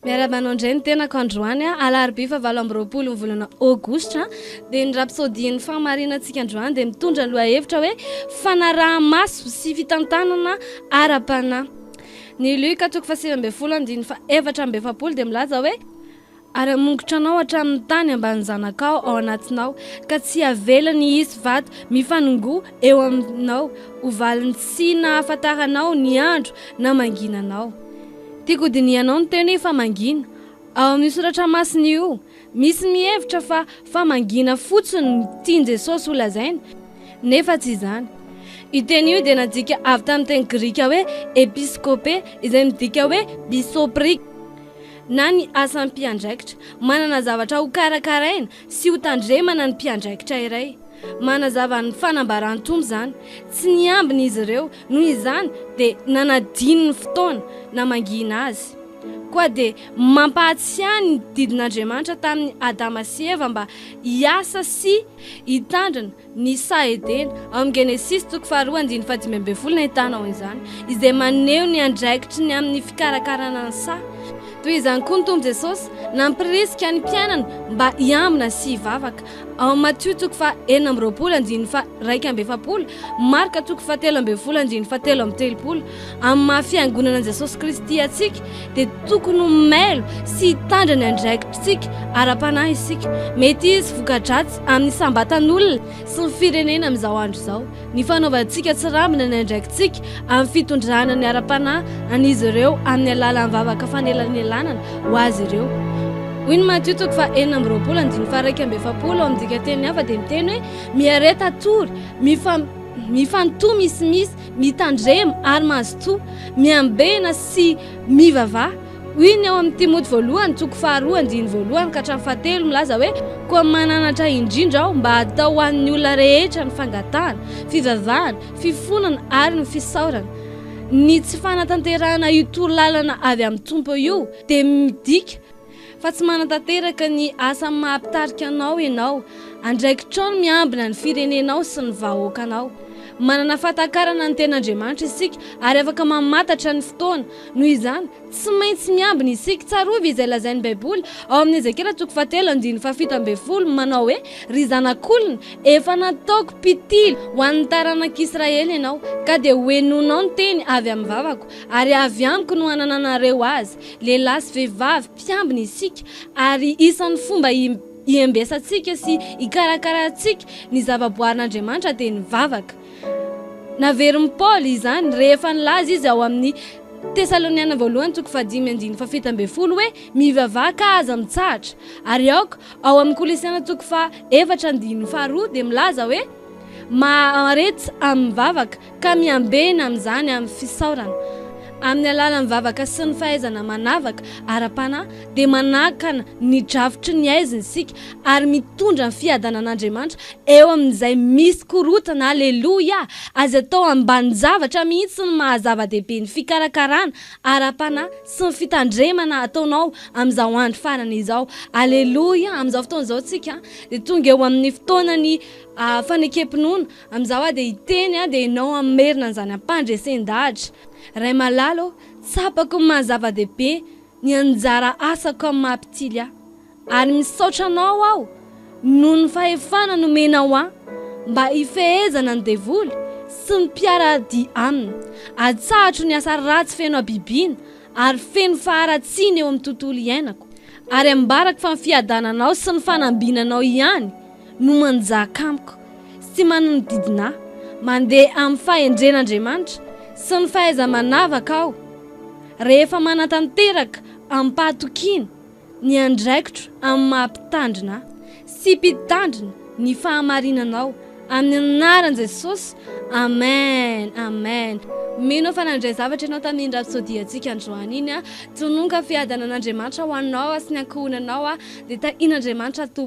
Miarahaba anao indray ny tenako androany a, alarobia fahavalo amby roapolo ny volana aogositra, dia ny rapsodian'ny fahamarinantsika androany dia mitondra lohahevitra hoe fanaraha-maso sy fitantanana ara-panahy. Ny Luka toko fahasivy ambin'ny folo andininy fahaefatra amby efapolo dia milaza hoe, Ary hamongotra anao hatramin'ny tany ambanin'ny zanakao ao anatinao, ka tsy havelany hisy vato mifanongoa eo aminao ho valiny tsy nahafantaranao ny andro namanginanao. Tiako ho dinihanao ny teny hoe famangiana. Ao amin'io soratra masina io, misy ny mihevitra fa famangiana fotsiny no tian'i Jesosy holazaina, nefa tsy izany. Io teny io dia nadika avy tamin'ny teny grika hoe episkôpe, izay midika hoe bisoprika, na ny asam-piandraikitra, manana zavatra hokarakaraina, sy ho tandremana ny mpiandraikitra iray. Manazava ny fanambaran-tombo izany, tsy niambina izy ireo, noho izany dia nanadino ny fotoana namangihina azy. Koa dia mampahatsiahy ny didin'Andriamanitra tamin'i Adama sy Eva mba hiasa sy hitandrina ny saha Edena, ao amin'ny Genesisy toko faharoa andininy fahadimy ambin'ny folo no ahitana ao izany, izay maneho ny andraikitry ny amin'ny fikarakarana ny saha. Toy izany koa ny Tompo Jesosy, nampirisika ny mpianany mba hiambina sy hivavaka, ao amin'ny Matio toko faha enina amby roapolo andininy faha iraika amby efapolo, Marka toko faha telo ambin'ny folo andininy faha telo amby telopolo, Amin'ny maha Fiangonana an'i Jesosy Kristy antsika, dia tokony ho mailo sy hitandra ny andraikitritsika ara-panahy isika. Mety hisy voka-dratsy amin'ny isam-batan'olona sy ny firenena amin'izao andro izao, ny fanaovantsika tsirambina ny andraikitsika amin'ny fitondrana ny ara-panahy an'izy ireo amin'ny alalan'ny vavaka fanelanelanana ho azy ireo. Hoy ny Matio toko faha enina amby roapolo andininy faha iraika amby efapolo ao amin'ny dikanteny hafa dia miteny hoe, Miareta tory, mifanotoa misimisy, Mitandrema ary mazotoa, miambena sy mivavaha. Hoy ny ao amin'ny Timoty voalohany toko faharoa andininy voalohany ka hatramin'ny fahatelo milaza hoe, Koa mananatra indrindra aho mba hatao ho an'ny olona rehetra ny fangatahana, fivavahana, fifonana ary ny fisaorana. Ny tsy fanatanterahana io toro lalana avy amin'ny Tompo io dia midika, fa tsy manatanteraka ny asa maha-mpitarika anao ianao, andraikitrao ny miambina ny firenenao sy ny vahoakanao. Manana fahatakarana ny Tenin'Andriamanitra isika ary afaka mamantatra ny fotoana. Noho izany, tsy maintsy miambina isika. Tsarovy izay lazain'ny Baiboly ao amin'ny Ezekiela toko fahatelo andininy fahafito ambin'ny folo manao hoe, Ry zanak'olona, efa nataoko mpitily ho an'ny taranak'Israely ianao, ka dia hohenoinao ny teny avy amin'ny vavako, ary avy amiko no hanananareo azy. Lehilahy sy vehivavy mpiambina isika ary isan'ny fomba hiambesantsika sy hikarakarantsika ny zavaboarin'Andriamanitra dia ny vavaka. Naverin'i Paoly izany rehefa nilaza izy ao amin'ny Tesaloniana Voalohany toko fahadimy andininy fahafito ambin'ny folo hoe, Mivavaha ka aza mitsahatra. Ary aoka ao amin'ny Kolosiana toko faha efatra andininy faharoa dia milaza hoe, Mahareta amin'ny vavaka. ka miambena amin'izany amin'ny fisaorana, amin'ny alalan'ny vavaka sy ny fahaizana manavaka ara-panahy, dia manakana ny drafitry ny haizina isika ary mitondra ny fiadanan'Andriamanitra eo amin'izay misy korontana. Aleloia! Aza atao ambanin-javatra mihitsy ny maha-zava-dehibe ny fikarakarana ara-panahy sy ny fitandremana ataonao amin'izao andro farany izao. Aleloia! Amin'izao fotoana izao isika dia tonga eo amin'ny fotoanan'ny fanekem-pinoana. Amin'izao aho dia hiteny aho dia ianao hamerina an'izany ampandresen-dahatra. Ray malala ô, tsapako ny maha zava-dehibe ny anjara asako amin'ny maha mpitily ahy. Ary misaotra anao aho noho ny fahefana nomenao ahy mba hifehezana ny devoly sy ny mpiara-dia aminy. Atsahatro ny asa ratsy feno habibiana ary feno faharatsiana eo amin'ny tontolo iainako. Ary ambarako fa ny fiadananao sy ny fanambinanao ihany no manjaka amiko sy manonodidina ahy, mandeha amin'ny fahendren'Andriamanitra sy ny fahaiza-manavaka aho, rehefa manatanteraka amim-pahatokiana ny andraikitro amin'ny maha-Mpitandrina ahy sy Mpitandrina ny fahamarinanao, amin'ny anaran'i Jesosy, amen, amen. Mino aho fa nandray zavatra ianao tamin'iny rapsodiantsika androany iny, tononka fiadanan'Andriamanitra ho anao sy ny ankohonanao, dia tahian'Andriamanitra Tompo.